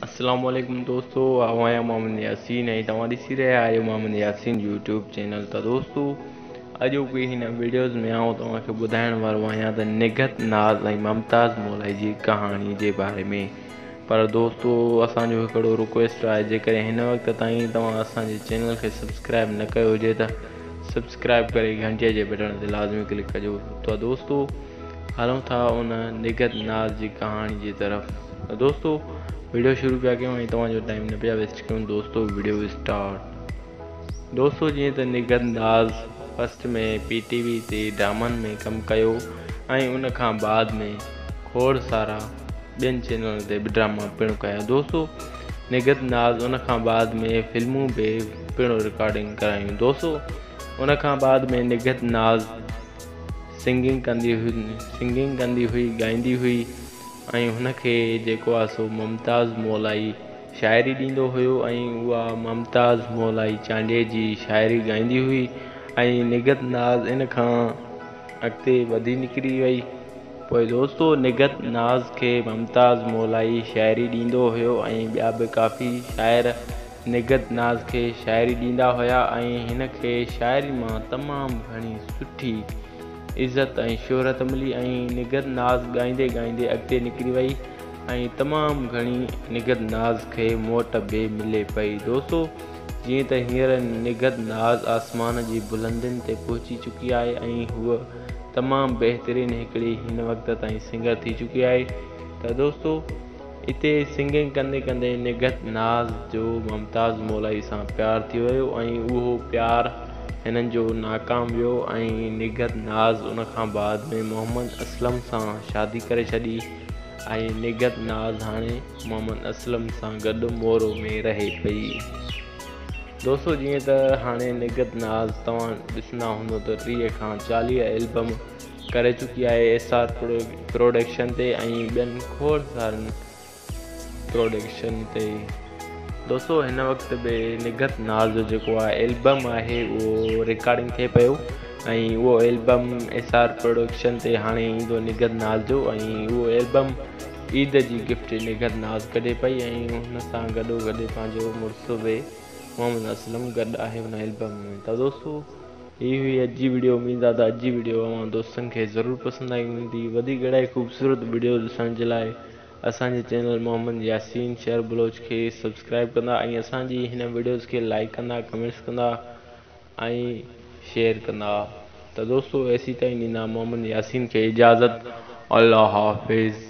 اسلام عليڪم دوستو آئون آهيان محمد ياسين ۽ توهان ڏسي رهيا آهيو محمد ياسين يوٽيوب چينل ته دوستو اڄوڪي هن ويڊيوز ۾ آئون توهان کي ٻڌائڻ وارو آهيان ته نگهت ناز ۽ ممتاز مولائي جي ڪهاڻي جي باري ۾ پر دوستو اسان جو هڪڙو رڪويسٽ آهي جيڪڏهن هن وقت تائين توهان اسان جي چينل کي سبسڪرائب نه ڪيو هجي ته سبسڪرائب ڪري گهنٽيء جي بٽڻ تي لازمي ڪلڪ ڪجو ته دوستو هلون ٿا ان نگهت ناز جي ڪهاڻي جي طرف ته دوستو ويڊيو شروع پيا ڪيون ۽ توهان جو ٽائيم نه پيا ويسٽ ڪيون دوستو ويڊيو اسٽارٽ دوستو جيئن ته Nighat Naz first ۾ P T V تي ڊرامن ۾ ڪم ڪيو ۽ ان کان بعد ۾ کوڙ سارا ٻين چينلن تي به ڊراما پڻ ڪيا دوستو نگهت ناز ان کان بعد ۾ فلمون به پڻ رڪارڊنگ ڪرايون دوستو ان کان بعد ۾ نگهت ناز سنگنگ ڪندي سنگنگ ڪندي هئي ڳائيندي هئي ۽ هن کي جيڪو آ سو ممتاز مولائي شاعري ڏيندو هيو ۽ اها ممتاز مولائي چانڊيي جي شاعري ڳائيندي هئي ۽ نگهت ناز ان کان اڳتي وڌي نڪري وئي پوء دوستو نگهت ناز کي ممتاز مولائي شاعري ڏيندو هيو ۽ ٻيا به ڪافي شاعر نگهت ناز کي شاعري ڏيندا هيا ۽ هن کي شاعري مان تمام گهڻي سٺي عزت ۽ شهرت ملي ۽ نگهت ناز ڳائيندي ڳائيندي اڳتي نڪري وئي ۽ تمام گهڻي نگهت ناز کي موٽ به ملي پئي دوستو جيئن ته هينئر نگهت ناز آسمان جي بلندين تي پهچي چڪي آهي ۽ هوء تمام بهترين هڪڙي هن وقت تائين سنگر ٿي چڪي آهي ته دوستو اتي سنگنگ ڪندي ڪندي نگهت ناز جو ممتاز مولائي سان پيار ٿي ويو ۽ اهو پيار هنن جو ناڪام ويو ۽ نگهت ناز ان کان بعد ۾ محمد اسلم سان شادي ڪري ڇڏي ۽ نگهت ناز هاڻي محمد اسلم سان گڏ مورو ۾ رهي پئي دوستو جيئن ته هاڻي نگهت ناز توهان ڏسندا هوندو ته ٽيهه کان چاليهه البم ڪري چڪي آهي ايس آر پروڊڪشن تي ۽ ٻين کوڙ سارن پروڊڪشن تي دوستو هن وقت به نگهت ناز جو جيڪو آهي البم آهي اهو رڪارڊنگ ٿئي پيو ۽ اهو البم ايس آر پروڊڪشن تي هاڻي ايندو نگهت ناز جو ۽ اهو البم عيد جي گفٽ نگهت ناز ڪڍي پئي ۽ هن سان گڏو گڏ پنهنجو مڙس به محمد اسلم گڏ آهي ان البم ۾ ته دوستو هي هئي اڄ جي وڊيو اميد آ ته اڄ جي وڊيو اوهان دوستن کي ضرور پسند آئي هوندي وڌيڪ اهڙائي خوبصورت وڊيو ڏسڻ جي لاء اسان جي چينل محمد ياسين شهر بلوچ کي سبسڪرائب ڪندا ۽ اسان جي هن وڊيوز کي لائيڪ ڪندا ڪمينٽس ڪندا ۽ شيئر ڪندا ته دوستو ايسي تائين ڏيندا محمد ياسين کي اجازت الله حافظ.